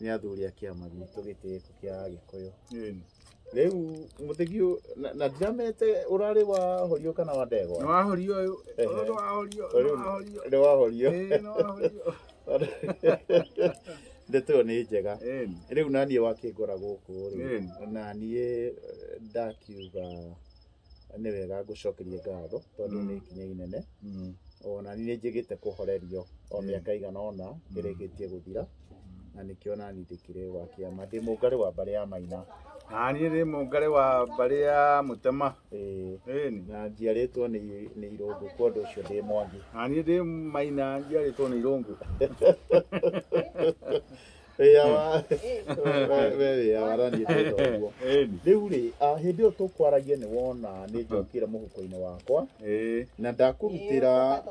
nĩ athuri a kĩama gitũ gĩtĩĩku kĩa Agĩkũyũ. Rĩu mũtegi ũyũ na- na ndiramete ũrarĩ wa horio kana wa ndegwa? Nĩ wahorio ũyũ. Ehe. Ũyũ nĩ wahorio, nĩ Ũyũ wahorio. Nĩ wa horio. Ĩĩ, nĩ wahorio. Ndeto ĩyo nĩ njega. Ĩĩ. Rĩu naniĩ wakĩngora gũkũ rĩ, Ĩĩ. naniĩ eh, ndakiuga nĩ wega ngũcokerie ngatho tondũ nĩ ikinya inene ona niĩ njĩgĩte kũhorerio o mĩaka igana ona ĩrĩkĩtie gũthira na nĩkĩo nani ndĩkĩrĩ wa kĩama ndĩ mũngarĩ wa mbarĩ ya maina nani ndĩ mũngarĩ wa mbarĩ ya mũtema na njiarĩtwo nĩ nĩ irũngũ kwa ũndũ ũcio ndĩ mwangi nani ndĩ maina njiarĩtwo nĩ irũngũ Ĩya wa- we- we- we ĩya waraniĩ twĩka ũguo. Ĩni. rĩu rĩ ah, hĩndĩ ĩyo tũkwaragia nĩ wona nĩ njokire mũhuko-inĩ wakwa Ĩĩ. na ndakũrutĩra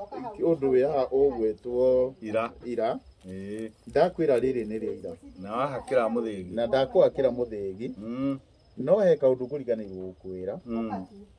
ũndũ wĩyaha ũgwĩtwo Ira. ira Ĩĩ. ndakwĩra rĩrĩ nĩ rĩa ira Na wahakĩra mũthĩgi. na ndakũhakĩra mũthĩgi Mm. no he kaũndũ ngũriganĩirwo gũkwĩra Mm.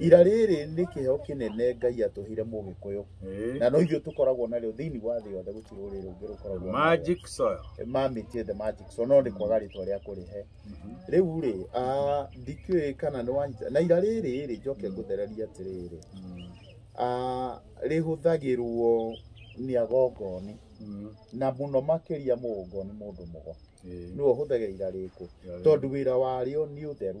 ira rĩrĩ nĩ kĩheo kĩnene ngai atũhire mũgĩkũyũ Eh. na no ithuĩ tũkoragwo narĩo thĩinĩ wa thĩ yothe gũtirĩ rũrĩrĩ rũngĩ rũkoragwo narĩo. Magic soil. mamĩtie the magic so no nĩ kwaga rĩtwa rĩa kũrĩhe rĩu rĩ ah, ndikĩũĩ kana nĩ wanyita na ira rĩrĩ rĩ njoke ngũthereria atĩrĩrĩ ah, rĩhũthagĩrwo nĩ agongoni Mm. na mũno makĩria mũgongoni mũndũ mũgo Eh. nĩwe ũhũthagĩra ira rĩkũ Yeah. tondũ wĩra warĩo nĩ ũtheru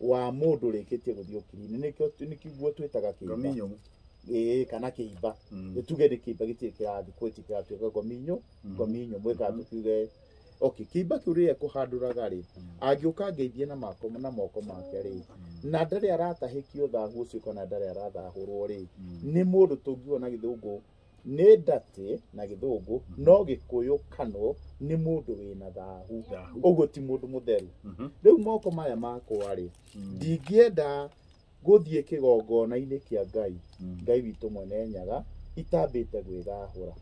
wa mũndũ ũrĩkĩtie gũthiĩ ũkiri-inĩ nĩkĩo nĩkĩguo twĩtaga kĩimba Ngominyo. ĩĩ kana kĩimba Mm. nĩ tuge nĩ kĩimba gĩtirĩ kĩrathi kwĩti kĩratuĩka ngominyo Mm. ngominyo mwĩka Mhm. tukiuge okay kĩimba kĩu rĩrĩa kũhandũraga rĩ Mm. angĩũka ngeithie na mako na moko make rĩ Mm. na ndarĩ aratahĩkio thahu ũcio kana ndarĩ arathahũrwo rĩ Mm. nĩ mũndũ tũngiuga na gĩthũngũ nĩ ndatĩ na gĩthũngũ no gĩkũyũ kanũ nĩ mũndũ wĩna thahu Thahu. ũguo ti mũndũ mũtheru Mhm. rĩu moko maya makwa rĩ Mm. ndingĩenda gũthiĩ kĩgongona-inĩ kĩa ngai Mm. ngai witũ mwene nyaga itambĩte gwĩthahũra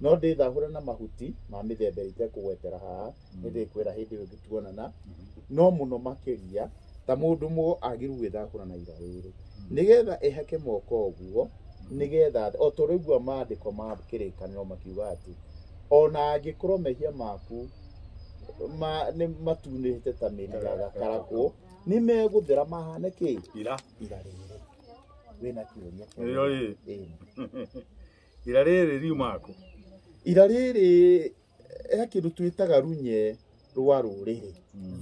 no ndĩthahũre na mahuti ma mĩthemba ĩrĩa itekũgwetera haha nĩ ndĩkwĩra hĩndĩ ĩyo tuonana no mũno makĩria ta mũndũ mũ agĩru gwĩthakũra na ira rĩrĩ nĩgetha ehake moko ũguo nĩgetha o tũrĩgua maandĩko ma kĩrĩkanĩro makiuga atĩ ona angĩkorwo mehia maku ma, nĩ matunĩte ta mĩri ya gakarakũ nĩ megũthera mahane kĩ ira ira rĩrĩ wĩna kĩũria kĩa- ĩyo ĩ Ĩĩ. ira rĩrĩ riumaku ira rĩrĩ he kĩndũ twĩtaga runye rwa rũrĩrĩ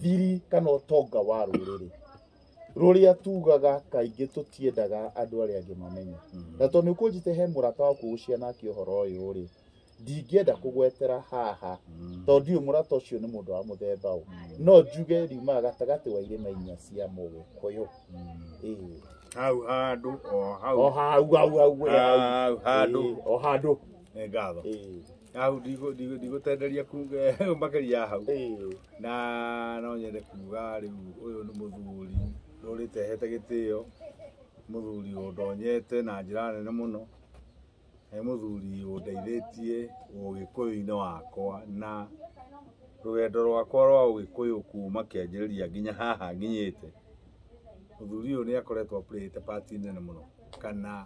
thiri kana ũtonga wa rũrĩrĩ rũrĩa tugaga kaingĩ tũtiendaga andũ arĩa angĩ mamenye na tondũ nĩ ũkũnjĩte he mũrata waku ũgũcia nake ũhoro ũyũ rĩ ndingĩenda kũgwetera haha tondũ ndiũĩ mũrata ũcio nĩ mũndũ wa mũthemba ũ no njuge riumaga gatagatĩ wa irĩma inya cia mũgĩkũyũ Ĩĩ. hau handũ o o hau hau hau hau hau handũ Ĩĩ, o handũ nĩ ngatho Ĩĩ. hau ndigå- ndigå- ndigũtenderia kuga makĩria ya hau Ĩĩ. na no nyende kuga rĩu ũyũ nĩ mũthuri rũrĩte hete gĩtĩo mũthuri ũndonyete na njĩra nene mũno nĩ mũthuri ũndeithĩtie ũgĩkũyũ-inĩ wakwa na rũgendo rwakwa rwa ũgĩkũyũ kuma kĩanjĩrĩria nginya haha nginyĩte mũthuri ũyũ nĩ akoretwo apurĩte pati nene mũno kana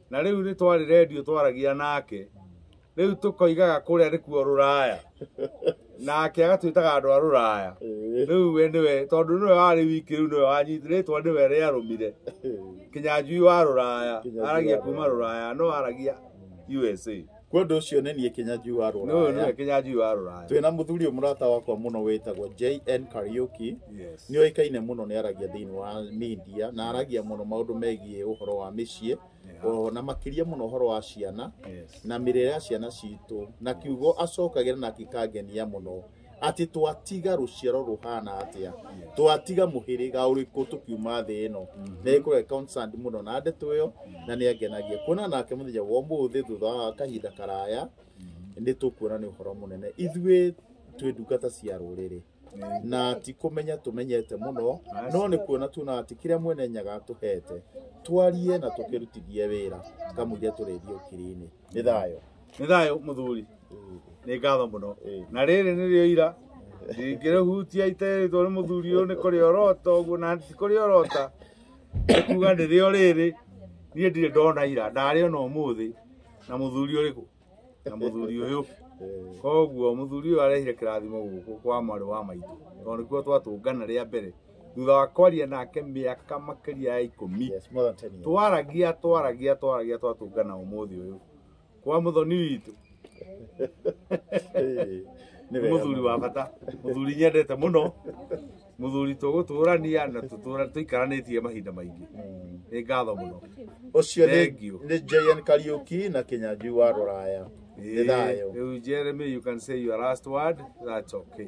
na rĩu nĩ twarĩ redio twaragia nake rĩu tũkoigaga kũrĩa nĩkuo rũraya nake agatwĩtaga andũ a rũraya rĩu we nĩwe tondũ nĩwe warĩ wiki rĩu nĩwe wanyiti rĩtwa nĩwe rĩarũmire kinyanjui wa rũraya aragia kuma rũraya no aragia usa kwa ũndũ ũcio nĩ niĩ kĩnyanju wa Nũyũ nĩwe rũraya kĩnyanjui wa rũraya. twĩna mũthuri ũyũ mũrata wakwa mũno wĩtagwo jn kariuki Yes. nĩ oĩkaine mũno nĩ aragia thĩinĩ wa media na aragia mũno maũndũ megiĩ ũhoro wa mĩciĩ o na makĩria mũno ũhoro wa ciana Yes. na mĩrĩre ya ciana citũ na kiugo acokagĩra na kĩkangenia mũno atĩ twatiga rũciaro rũhana atĩa twatiga mũhĩrĩga ũrĩkũ tũkiuma thĩ ĩno nĩ kũrĩa concerned mũno na ndeto ĩyo na nĩ angenagia kuona nake mũthenya wa ũmũthĩ thutha wa kahinda karaya nĩ tũkuona nĩ ũhoro mũnene ithuĩ twĩ ndungata cia rũrĩrĩ na ti kũmenya tũmenyete mũno no nĩ kuona tuona atĩ kĩrĩa mwene nyaga atũhete twarie na tũkĩrutithie wĩra kamũiria tũrĩthiĩ ũkiri-inĩ nĩ thayũ nĩ thayũ mũthuri nĩ ngatho mũno Ĩĩ. na rĩrĩ nĩrĩo ira ndingĩrĩhutia iterĩtwo nĩ mũthuri ũyũ nĩ kũrĩa ũrota ũguo na ti kũrĩa ũrota nĩ kuga nĩrĩo rĩrĩ niĩ ndirĩ ndona ira ndarĩ ona ũmũthĩ na mũthuri ũrĩkũ na mũthuri ũyũ koguo mũthuri ũyũ arehire kĩrathimo gũkũ kwa mwarĩ wa maitũ tondũ nĩkuo twatũngana rĩa mbere thutha wa kwaria nake mĩaka makĩria ya ikũmi Yes, more than 10 years. twaragia twaragia twaragia twatũngana ũmũthĩ ũyũ kwa mũthoni witũ Eh, nĩ wega mũthuri mũno. wa bata mũthuri nyendete mũno mũthuri tũgũtũrania na tũtũra tũikaranĩtie mahinda maingĩ Mm. nĩ ngatho mũno Ũcio nĩ Thank you. nĩ JN Kariuki na Kinyanjui wa Rũraya. Nĩ thayũ. Rĩu Jeremy you can say your last word that's okay